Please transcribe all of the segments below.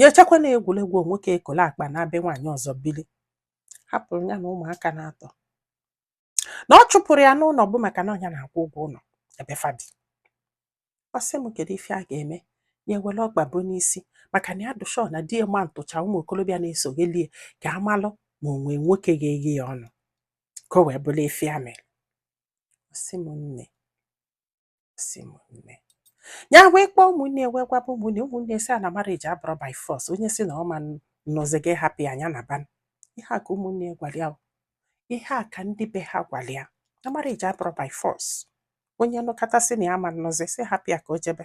ya echekwa na egwuregwu nwoke ekolu akpa naa be nwaanyị ọzọ bili hapụrụ ya na ụmụaka na-atọ na ọ chụpụrụ ya n'ụlọ bụ maka na ọ nya na-akwụ ụgwọ ụlọ ebe fa bi ọ sị m kedu ife ya ga-eme ya ewere ọgba bụ n'isi maka na ya dụshọ na di ma ntụcha ụmụ okorobịa na-esoghelie ka a malụ ma o nwe nwoke ga-eghe ya ọnụ ka o wee bụrụ ife ya mere ọ sị m nne sị m nne ya wee kpọọ ụmụnne wee gwaba ụmụnne ụmụnne sị a na marriage abụrọ by force onye sị na ọ ma nụzi gị hapụ ya nya naba ihe a ka ụmụnne gwara ya ihe a ka ndị be ha gwara ya na marriage abụrọ by force onye nụkata sị na ya ma nnụzi sị hapụ ya ka o jebe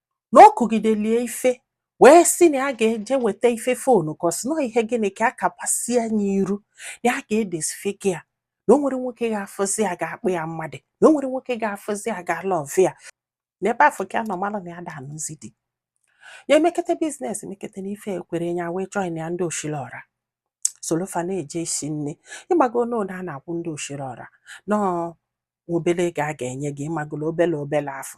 na ọ kụgidelie ife wee sị na ya ga-eje weta ife afụnụ ka ọ sị n'ọ ihe gịnị ka a kapasịa nya iru na ya ga-edisfigure ya na o nwerọ nwoke ga-afụzi ya ga-akpọ ya mmadụ na o nwerọ nwoke ga-afụzi ya ga-alove ya n'ebe afụ ka ya nọ mara na ya da anụzi di ya emekete biznes emekete n'ife ekwerọ ya wee join ya ndị osili ọra solu fa na-eje isi nni ị mago n'ụgwọ a na-akwụ ndị osili ọra n'ọọ obele ego a ga-enye gị ịmagolo obele obele afụ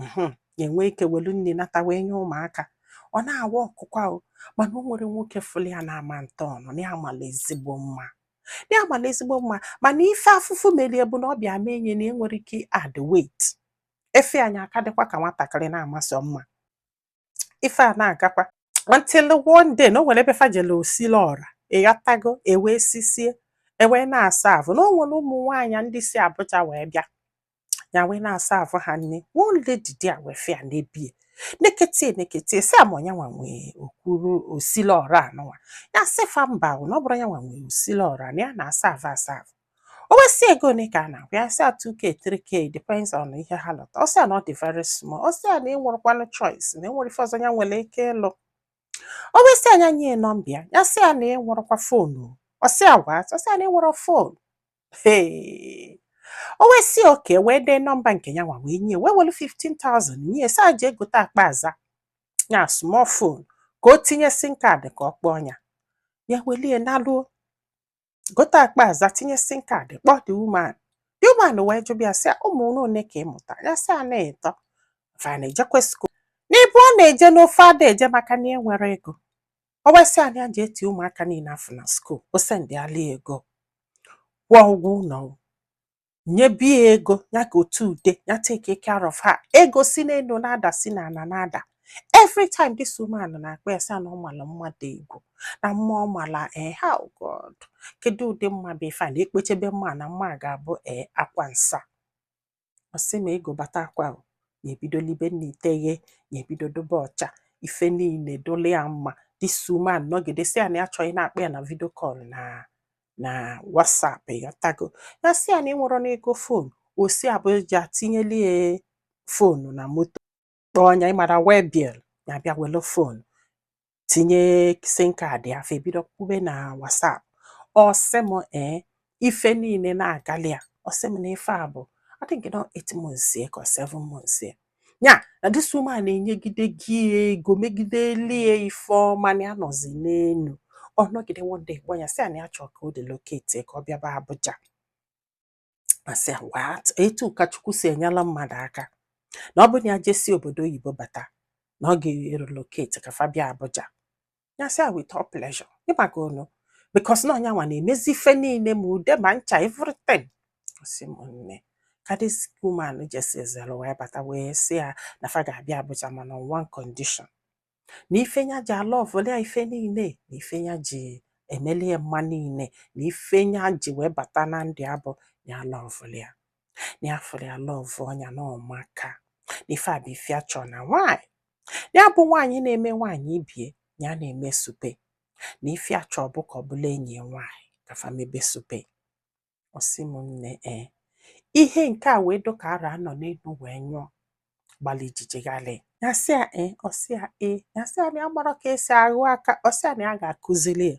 mhm, ya enwe ike welu nni nata wee nye ụmụaka ọ na-awa ọkụkwa o mana o nwerọ nwoke fụlụ ya na-ama ntọ ọnụ na ya mala ezigbo mma na ya mala ezigbo mma mana ife afụfụ merie bụ na ọ bịa mee nya na enwerọ ike add weight efe anyị aka dịkwa ka nwatakịrị na-amasị mma ife a na-agakwa until one day na o nwere ebe fa jele osili ọra ị ghọtago e wee sisie e wee na-aserve na o nwere ụmụ nwaanyị ndị si Abuja wee bịa ya wee na-aserve ha nni one lady there wee fụ ya nebie neketie neketie sị a ma ọ nya nwa nwee okwuru osili ọra anụnwa ya sị fa mba na ọ bụrọ nya nwa nwee osili ọra na ya na-aserve aserve o wee sị ego one ka a na-akwụ ya sị a 2k 3k depends on ihe ha lụta ọ sị a na ọ dị very small ọ sị a na enwerọkwanụ choice na enwerọ ife ọzọ ya nwere ike ịlụ o wee sị a nya nye ya nọmba ya ya sị a na enwerọkwa fonu ọ sị a what ọ sị a na enwerọ fonu Hey. o wee sị okay wee dee nọmba nke ya nwa wee nye wee welu 15,000 nye sị a jee gote akpọ aza ya small phone ka o tinye sim card ka ọ kpọọ ya ya welie naluo gote akpọ aza tinye sim card kpọọ the woman the woman wee jụbịa sị ya ụmụ n'one ka ị mụta ya sị ya na ịtọ fa na-ejekwe skuul n'ịbụọ na-eje n'ofu ada eje maka na enwerọ ego o wee sị a na ya je eti ụmụaka niile afụ na skuul o sendịala ego kwụọ ụgwọ ụlọ nyebi ya ego ya ka o te ude ya take care of her ego si n'enu na-ada si n'ana na-ada every time this woman na-akpọ ya sị na ọ mala mma dị egwu na mma ọ mala ee eh, ha oh god kedu ụdị mma bụ ife a na ekpechebe mma na mma ga-abụ ee eh, akwa nsa ọ sị m ego batakwa ya ebido libe nni iteghe ya ebido dụbe ọcha ife niile dụlị ya mma this woman nọgide sị ya na ya chọ ịna-akpọ ya na vidio kọl na na WhatsApp ịghọtago ya sị ya na enwerọ m ego fon o si Abuja tinyeli ya fonu na moto kpọọ nya ịmara waybill ya bịa welu fonu tinye sim kaadị ya fa ebido kwube na WhatsApp ọ sị m ee ife niile na-agali ya ọ sị m na ife a bụ I think na ọ eight months ka seven months ya na this woman na-enyegide ya ego megidelie ife ọma na ya nọzi n'enu ọ nọgide one day kpọọ ya sị ya na ya chọrọ ka ọ relocate ka ọ bịaba Abuja asị ya what etu ka Chukwu si enyela mmadụ aka na ọ bụ na ya jesi obodo oyibo bata na ọ ga-relocate ka fa bịa Abuja ya sị ya with all pleasure ị magonu because na ọ nyanwa na-emezi ife niile ma ude ma ncha everything ọ sị m nne ka this woman jesizere wee bata wee sị ya na fa ga-abịa Abuja mana on one condition na ife nya ji alọvụlị ya ife niile na ife nya ji emelie mma niile na ife nya ji wee bata na ndụ ya bụ ya lọvụlị ya na ya fụrụ ya lọvụọ nya na ọ maka na ife a bụ ife ya chọ na nwaanyị ya bụ nwaanyị na-eme nwaanyị ibe ya na-eme supe na ife ya chọ bụ ka ọ bụlụ ya enyi nwaanyị ka fa mebe supe ọ sị m nne ee ihe nke a wee dụ ka arụ a nọ n'enu wee nyụọ gbalị ijiji ghalị ya sị ya ee ọ sị ya ee ya sị ya na ya amarọ ka esi aghụ aka ọ sị ya na ya ga-akụzili ya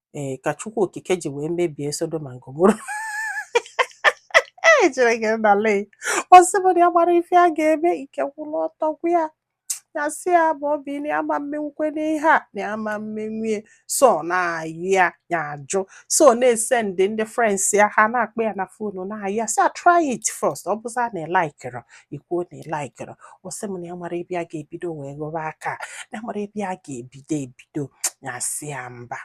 ee ka Chukwu Okike ji wee mebie Sodoma na Gomora ejere gị n'ala ọ sị m na ya amarọ ife ya ga-eme ike kwụrụ ọtọ gwụ ya ya sị ya bụ obi na ya ama emenwukwe n'ihe a na ya ama emenwie so na-ayọ ya ya ajụ so na-esendi ndị friends ya ha na-akpọ ya na fonu na-ayọ ya sị ya try it first ọ bụzịa na ịlaikịrọ i kwuo na ịlaikịrọ ọ sị m na ya amarọ ebe ya ga-ebido wee ghọba aka na ya amarọ ebe ya ga-ebido ebi do ya sị ya mba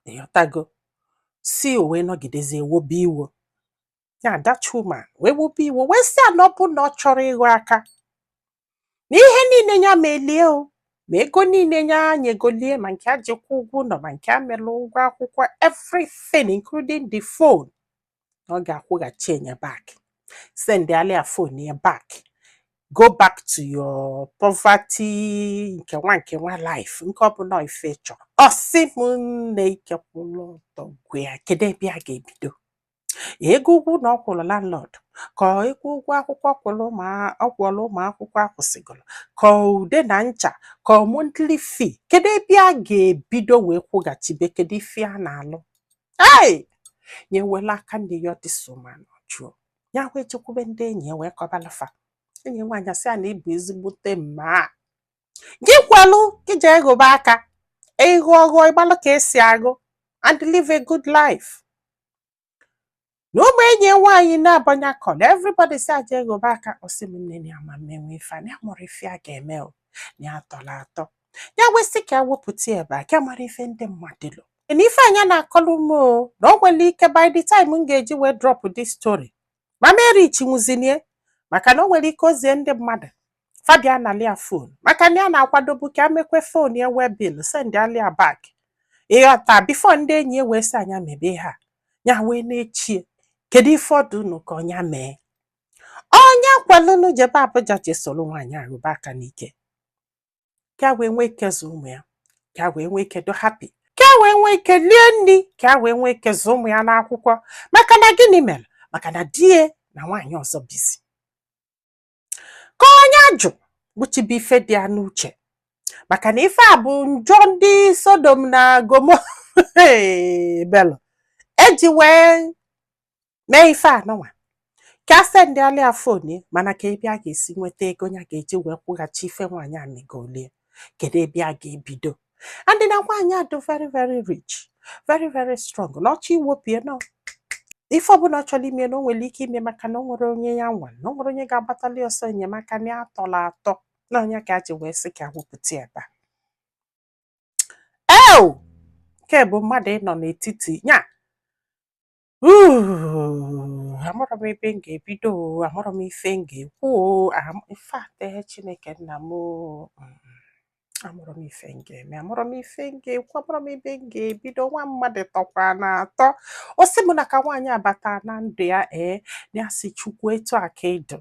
ịghọtago si o wee nọgidezie wobe iwo ya that woman wee wobe iwo wee sị ya na ọ bụ na ọ chọrọ ịghọ aka na ihe niile ya melie o ma ego niile nya nyegolie ma nke ya ji kwụọ ụgwọ ụnọ ma nke a mere ụgwọ akwụkwọ everything including the phone na ọ ga-akwụghachi nya back sendịala ya fon ya back go back to your poverty nke nwa nke nwa life nke ọ bụla ife ị chọ ọ sị m nne ike kwụrụ ọtọ gwụ ya kedu ebe a ga-ebido ego ụgwọ ụnọ ọ kwụrụ landlord ka ego ụgwọ akwụkwọ ọ kwụrụ ụmụ akwụkwọ akwụsịgoro ka ude na ncha ka monthly fee kedu ebe a ga-ebido wee kwụghachibe kedu ife a na-alụ ei nye wela aka ndị ya ọdịsoma n'ọjụọ ya wee jekwube ndị enyi ya wee kọbalụ fa enyi nwaanyị asị a na ị bụ ezigbote mma gị kwalụ gị jee ghọba aka ịghụ ọghụọ ị gbalụ ka esi agụ and live a good life na ụmụ enyi ya nwaanyị na-abụ nya kọọ na everybody sị a jee ghọba aka ọ sị m nne na ya ama emenwu ife a na ya amarọ ife ya ga-eme o na ya atọla atọ ya wee sị ka ya wepụta ya ebe a ka ya mara ife ndị mmadụ lo na ife a nya na-akọlụ m o na o nwere ike by the time m ga-eji wee drop this story m ama erichinwuzi nya maka na o nwere ike o zie ndị mmadụ fa bịa nalụ ya fon maka na ya na-akwadobu ka ya mekwe fon ya waybill sendịala ya back ị ghọta before ndị enyi wee sị a nya mebe ha ya wee na-eche kedu ife ọ dụnụ ka ọ nya mee ọ nya kwalụnụ jebe Abuja je soro nwaanyị a rụba aka n'ike ka wee nwee ike zụ ụmụ ya ka wee nwee ike dụ happy ka wee nwee ike lie nri ka wee nwee ike zụ ụmụ ya n'akwụkwọ maka na gịnị mere maka na di ya na nwaanyị ọzọ bizi ka ọ nya jụ gbuchibe ife dị ya n'uche maka na ife a bụ njọ ndị Sodom na Gomora melụ e ji wee mee ife anụnwa ka ya sendịala ya fon mana kee ebe a ga-esi nweta ego ya ga-eji wee kwụghachi ife nwaanyị a megolu ya kedu ebe a ga-ebido and na nwaanyị a dụ very very rich very very strong na ọ chọọ iwopụ ya na ife ọbụla ọ chọrọ ime na o nwere ike ime maka na o nwerọ onye ya nwa na o nwerọ onye ga-agbatali ya ọsọ enyemaka na ya atọla atọ na ọ nya ka ya ji wee sị ka ya wepụta ebe a nke bụ mmadụ ịnọ n'etiti ya Ooh, amarọ m ebe m ga-ebido o, amarọ m ife m ga-ekwu o, am- in fact, eh, Chineke nna m o, mm, amarọ m ife m ga-eme, amarọ m ife m ga-ekwu, amarọ m ebe m ga-ebido, nwa mmadụ atọkwana atọ. Ọ sị m na ka nwaanyị a bata na ndụ ya ee, na ya sị Chukwu etu a ka ị dụ.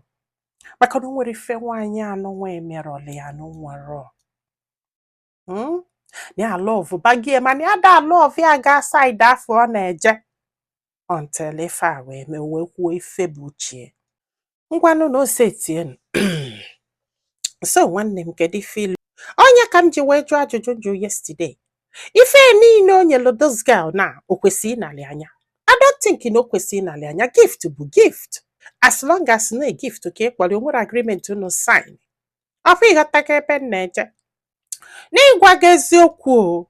Maka na o nwerọ ife nwaanyị anụnwa emerọlụ ya na o nwerọ. hmm? ya love bagie mana ya da love ya ga side afọ ọ na-eje until ife a wee mee wee kwuo ife bụ uche ngwanụ na ose tienu so nwanne m kedu ife i lo ọ nya ka m ji wee jụọ ajụjụ m jụ yesterday ife niile o nyelu those girl na o kwesịrị ịnalị a nya I don't think na o kwesịrị ịnalị a nya gift bụ gift as long as na ọ gift ka ị kpọrọ o nwerọ agreement unu sign up for ịghọtago ebe m na-eje n'ịgwa gị eziokwu o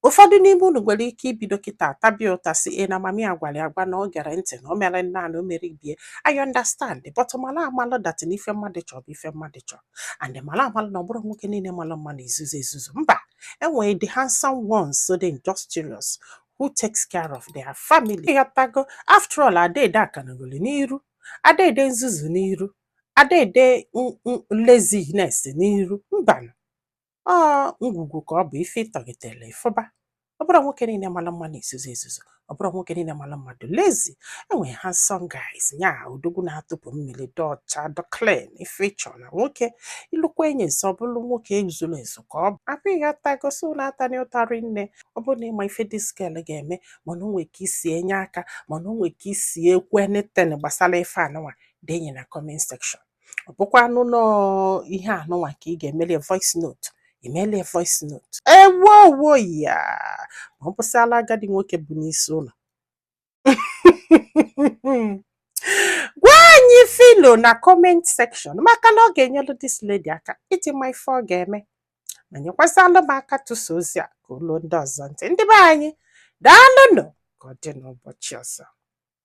ụfọdụ n'ime unu nwere ike ibido kịta tabi ụta sị na mami ya gwara ya agwa na o gerọ ntị na o mere nna na o mere ibie I understand but mara amalụ that na ife mmadụ chọrọ bụ ife mmadụ chọrọ and mara amalụ na ọ bụrọ nwoke niile mara mma na-ezuzu ezuzu mba e nwere ndị handsome ones so dị industrious who takes care of their family ịghọtago after all a da ede akanagoli n'iru a da ede nzuzu n'iru a da ede laziness n'iru mbanụ ọ ngwugwu ka ọ bụ ife ị tọghetere ị fụba ọ bụrọ nwoke niile mara mma na-ezuzu ezuzu ọ bụrọ nwoke niile mara mma dị lazy e nwere handsome guys nya odogwu na-atụpụ mmiri dị ọcha dị clean ife ị chọ na nwoke ị lụkwa enyi nso ọ bụrụ nwoke zuru ezu ka ọ bụ abụ ihe atagosi ụlọ atana ụta rinne ọ bụrụ na ị ma ife this girl ga-eme ma na o nwere ka i si enye aka ma na o nwere ka i si ekwu anything gbasara ife anụnwa denye na comment section ọ bụkwanụ na ihe anụnwa ka ị ga-emeli voice note i meli voice note ewowo ya ma ọ bụsịala agadi nwoke bụ n'isi ụlọ gwa anyị ife i lo na comment section maka na ọ ga-enyelu this lady aka iji ma ife ọ ga-eme ma nyekwazịalụ m aka tụsa ozi a ka o lu ndị ọzọ ntị ndị be anyị daalụnụ ka ọ dị n'ụbọchị ọzọ